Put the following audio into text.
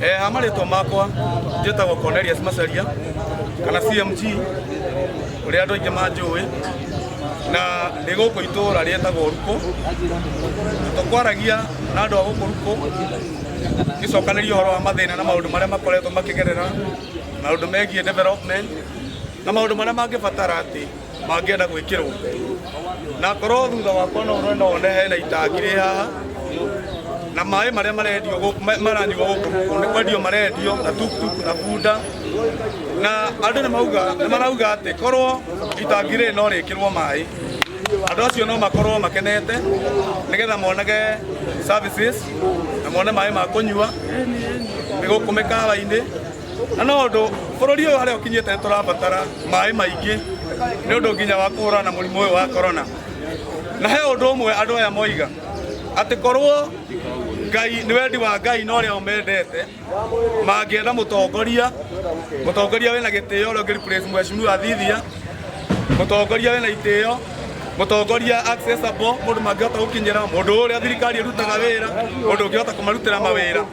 Eh, amarĩtwa makwa njĩtagwo Cornelius Macharia kana CMG ũrĩa andũ aingĩ manjũĩ na ndĩ gũkũ itũũra rĩetagwo Ruko tũkwaragia na andũ a gũkũ Ruko gĩcokanĩria ũhoro wa mathĩna na maũndũ marĩa makoretwo makĩgerera maũndũ megiĩ development na maũndũ marĩa mangĩbatara atĩ mangĩenda gwĩkĩrwo na ngorwo thutha wakwa no ũrona one hena itangi rĩ haha na maĩ marĩa marendio gũkũ- ma- maranyuo gũkũ gũkũ nĩ kwendio marendio na tuktuk na bunda na andũ nĩ mauga nĩ marauga atĩ korwo itangi rĩrĩ no rĩkĩrwo maĩ andũ acio no makorwo makenete nĩgetha monage services na mone maĩ ma kũnyua nĩ gũkũ mĩkawa-inĩ na no ũndũ bũrũri ũyũ harĩa ũkinyĩte nĩ tũrabatara maĩ maingĩ nĩ ũndũ nginya wa kũhũrana na mũrimũ ũyũ wa korona na he ũndũ ũmwe andũ aya moiga atĩ korwo ngai nĩ wendi wa ngai na ũrĩa ũmendete mangĩenda mũtongoria mũtongoria wĩna gĩtĩo ũrĩa ũngĩ replace mheshimiwa Thithia mũtongoria wĩna itĩo mũtongoria accessible mũndũ mangĩhota gũkinyĩra mũndũ ũrĩa thirikari ĩrutaga wĩra mũndũ ũngĩhota kũmarutĩra mawĩra